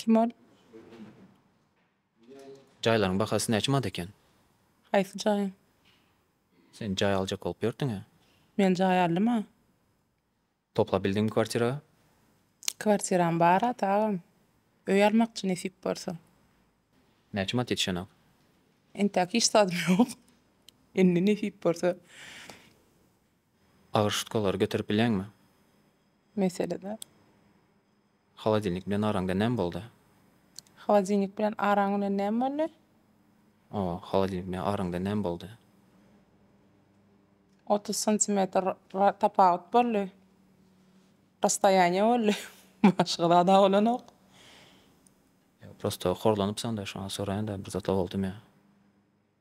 Kim ol? Jaýlaryň bahasy näçe manat eken? Haýsy jaýyň? Sen jaý aljak bolup ýörtüň-ä? Men jaý aldym-a. Toplap bildiňmi kwartira? Kwartiram bar ata agam. Öý almakçy nesip bolsa. Näçe manat ýetişenok? Entäk hiç zadym ýok. Indi nesip bolsa. Agyr şutkalary göterip bilýäňmi? Mesele däl. Holodilnik bilen araňda näme boldy? Holodilnik bilen araň bilen näme boldy? O, holodilnik bilen araňda näme boldy? Otuz santimetr ra tapawut boldy. Rastoýaniýe boldy. Başga zad-a bolanok. Ýa, prosto horlanypsaň-da, şoňa soraýan-da, bir zat-a boldumy?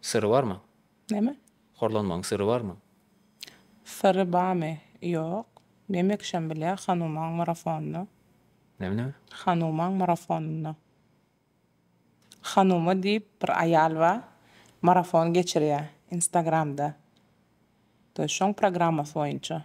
Syry barmy? Näme? Horlanmagyň syry barmy? Syry bamy? Ýok. Näme kişem bilýär Hanumaň marafonynda? Näme näme? Hanumaň marafonynda. Hanuma diýip bir aýal bar. Marafon geçirýär instagramda. Şoň programmasy boýunça.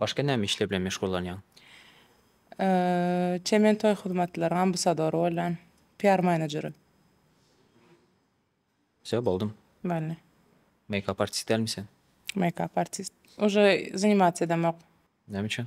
Başga näme işler bilen meşgullanýaň? Çemen toý hyzmatlaryň ambasadory bolýan. PR manejeri. Wse boldymy? Boldy. Meýkap artist dälmi sen? Meýkap artist. Uje zanimasiýa edemok. Näme üçin?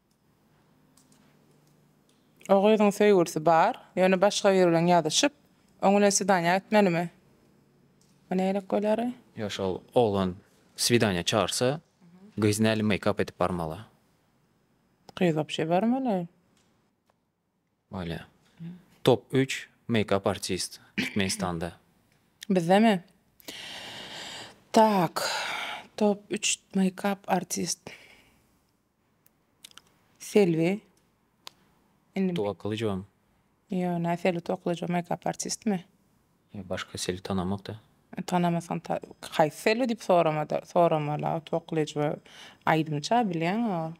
O gyzyň söýgülisi bar, ýöne başga biri bilen ýazyşyp, oň bilen swidaniýa gitmelimi? Bu nähili bolýary? Ýa şol oglan swidaniýa çagyrsa, gyz nähili meýkap edip barmaly? Gyz wapşe barmaly. Bolýa. Top üç meýkap artist Türkmenistanda. Bizdemi? Tak. Top üç meýkap artist. Selbi. Indi. Tugakylyjowam. Ýok, nä Selbi Tugakylyjow meýkap artistmi? Ýok, başga Selbi tanamok-da. Tanamasaň ta haýsy Selbi diýip sorama-da, soramala. Tugakylyjowa aýdymçy-a bilýäň-a ol.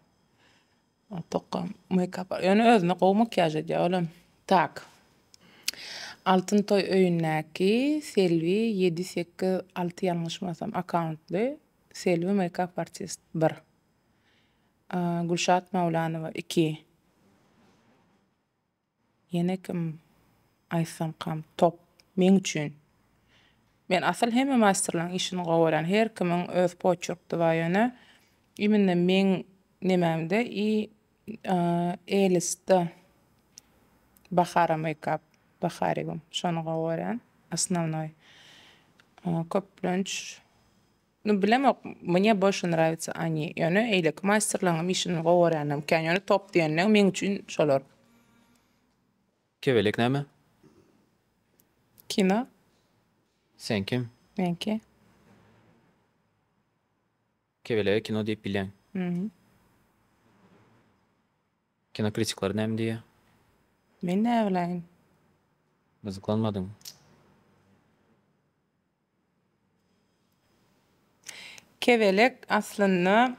Tokga meýkap ýöne özüne gowy makiýaž edýär olam. Tak. Altyn toý öýündäki Selbi ýedi sekiz alty ýalňyşmasam akkauntly Selbi meýkap artist bir. Gülşat Maulanowa iki. Ýene kim aýtsamkam top meň üçin. Men asyl hemme maýsterlaň işini gowy görýän her kimiň öz poçerkdi bar ýöne immine meň nememde i elistde bahara meýkap baharigum şony gowy görýän asnownoý köplenç Nu bilemok mne boşe nravitsa ani yone eyleki masterlaňam işini gowy göryanem kän yone top diyende meň üçin şolar. Kebelek näme? Kino. Sen kim? Men ki. Kebelege kino diýip bilýäň. Mhm. Kino kritikler näme diýýä? Men näbiläýin. Gyzyklanmadyň. Kebelek aslynda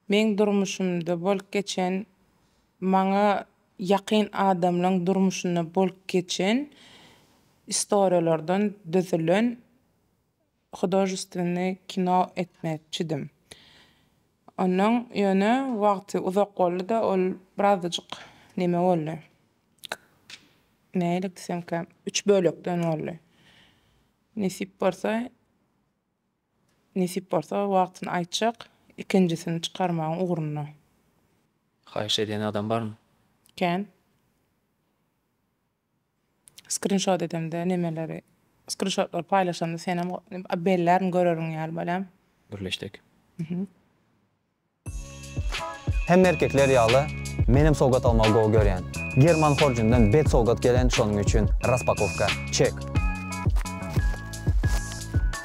meň durmuşymda bolup geçen maňa ýakyn adamlaň durmuşynda bolup geçen istoriýalardan düzülen Hudojestwenny kino etmekçidim. Onnoň ýöne wagty uzak boldy-da, ol birazajyk neme boldy. Nähili diýsemkä, üç bölekden boldy. Nesip bolsa, nesip bolsa wagtyny aýtjak, ikinjisini çykarmagyň ugrunda. Haýyş edýän adam barmy? Kän. Skrinşot edemde nemeleri skrinşotlary paýlaşamda senem bellärin görerin ýaly bolýan. Gürleşdik. Hemme erkekler ýaly menem sowgat almagy gowy görýän. German horjundan bet sowgat gelen şonuň üçin raspakowka. Çek.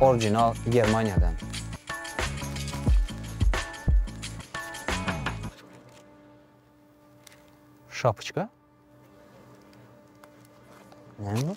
Orginal Germaniýadan. Şapyçka. Näme bu?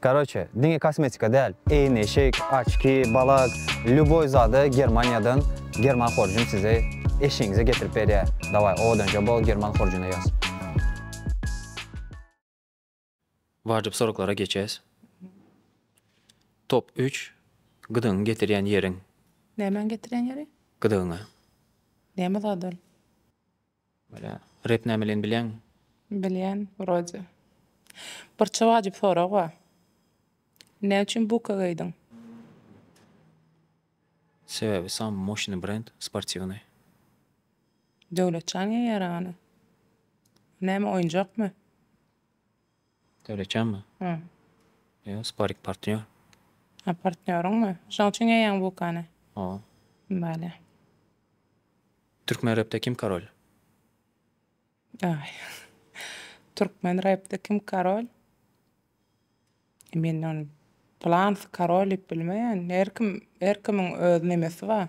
Karoçe, diňe kosmetika däl, eýneşik, oçki, balak, lýuboý zady Germaniýadan German horjun size eşigiňize getirip berýär. Daway, owadanja bol German horjuna ýaz. Wajyp soraglara geçes. Top üç, Gyzyňy getirýän ýeriň. Nämäňi getirýän ýeri? Gyzygyňy. Näme zat ol? Welä, rep nämelin bilýäňmi? Bilýän, wrode. Birçe wajyp sorag bar. Nä üçin buka geýdiň? Sebäbi sammy moşnyý brend, sportiwnyý. Döwletjan geýýär ony. Näme, oýunjakmy? Döwletjanmy? Hä. Ýok, sparik partnýor. Hä, partnýoryňmy? Şoň üçin geýýäňmi bukany? Hawa. Bale. Türkmen repde kim karol? Aý. Türkmen repde kim karol? E, men ony plansy karol diýip bilmeýän. Her kim, her kimiň öz nemesi bar.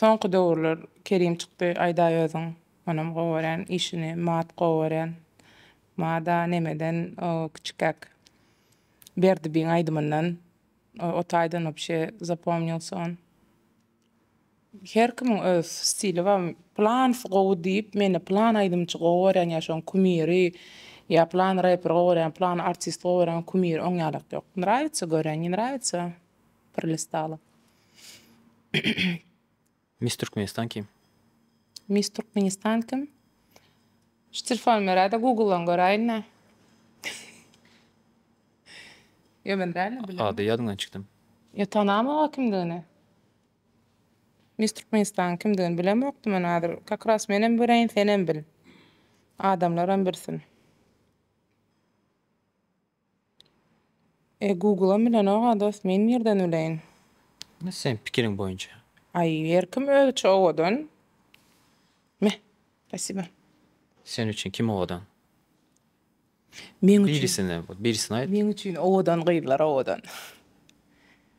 Soňky döwürler Kerim çykdy aýdaý özüň onam gowy görýän işini Maat gowy görýän Maada nemeden o kiçikäk Berdibiň aýdymyndan o otaydan wapşe zapomnilsa on. Her kimiň öz stili bar. Plansy gowy diýip, meni plan aýdymçy gowy görýän ýa şoň kumiri, ýa plan reper gowy görýän, plan artist gowy görýän kumiri oň ýalak ýok. Nraýatsa görýän, ne nraýatsa prlistala. Miss Türkmenistan kim? Miss Türkmenistan kim? Şu telefony beräýdä guguldan göräýin-dä. Ýa men dälmi, bilemok. Ady ýadyňdan çykdym. Ýa tanamok-a kimdigini. Miss Türkmenistanyň kimdigini bilemokdym men hazir. Kakras menem bileýin, senem bil. Adamlaram bilsin. E, Google-am bilenok-a dost, men nirden bileýin. Indi seniň pikiriň boýunça. Aý, her kim özüçe owadan. Me, spasiba. Sen üçin kim owadan? Meň üçin. Birisini näme bol, birisini aýt. Meň üçin owadan gyzlar owadan.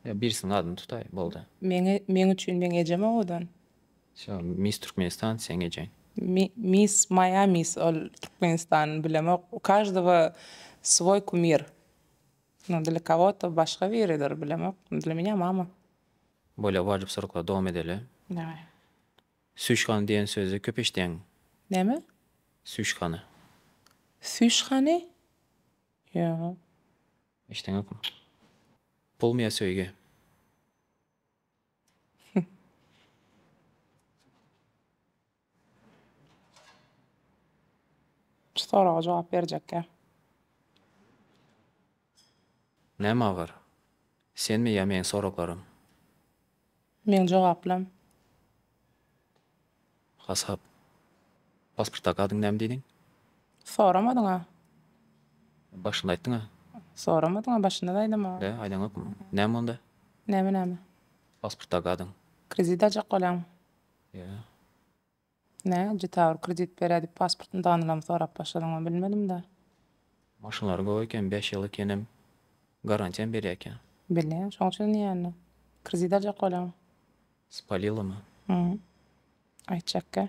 Ýa birisiniň adyny tutaý, boldy. Meň, meň üçin meň ejem owadan. Şo Miss Türkmenistan seň ejeň. Mi, Miss moýa Miss ol Türkmenistanyny bilemok. U każdowa swoý kumir. No dla kogo-to başga biridir, bilemok. Dla meňa mama. Bolýa wajyp soraglar dowam edeli. Daway. Süýşhana diýen sözi köp eşidýäňmi? Näme? Süýşhana. Süýşhany? Ýa. Eşideňokmy? Pulmy ýa söýgi? Şu soraga jogap berjekkä. Näme agyr? Senmi ýa meň soraglarym? Meň jogaplam. Hasap. Pasportdaky adyň näme diýdiň? Soramadyň-a. Başynda aýtdyň-a. Soramadyň-a, başynda-da aýdamok. Be, aýdaňokmy? Näme onda? Näme-näme? Pasportdaky adyň. Kredit aljak bolan. Ýa. Nä, Jitawur kredit berýär diýip pasportyny danylam sorap başladyňmy bilmedim-dä. Maşynlary gowy eken, bäş ýyl ekenem, garantiýam berýär eken. Bilýän, şoň üçin diýýän-dä. Kredit aljak bolýaň. Spalilamy? Hum. Aýtjakkä.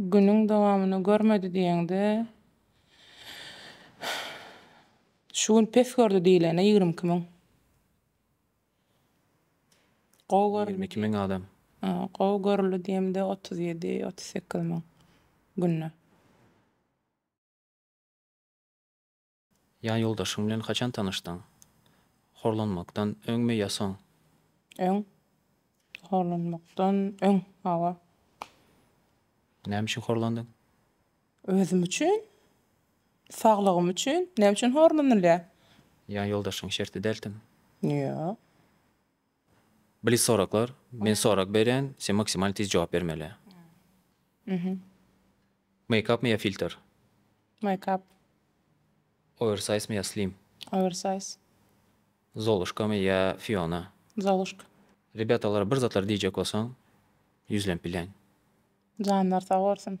Günüň dowamyny görmedi diýeňde, şu gün pes gördi diýilende ýigrimi iki müň. Gowy görüldi. Ýigrimi iki müň adam. Gowy görüldi diýemde otuz ýedi, otuz sekiz müň günde. Ýa ýoldaşyň bilen haçan tanyşdyň? Horlanmakdan öňmi ýa soň? Öň. Horlanmakdan öň, hawa. Näme üçin horlandyň? Özüm üçin. Saglygym üçin. Näme üçin horlanylýar? Ýa ýoldaşyň şerti dältimi? Ýok. Blic soraklar, men sorag berýän, sen maksimal tiz jogap bermeli. Mhm. Meýkapmy ýa filter? Meýkap. Owersaýzmy ýa slim? Owersaýz. Zolushkamy ýa Fiona? Zolushka. Rebýatalara bir zatlar diýjek bolsaň, ýüzlenip bilýän. Janlar sag bolsun.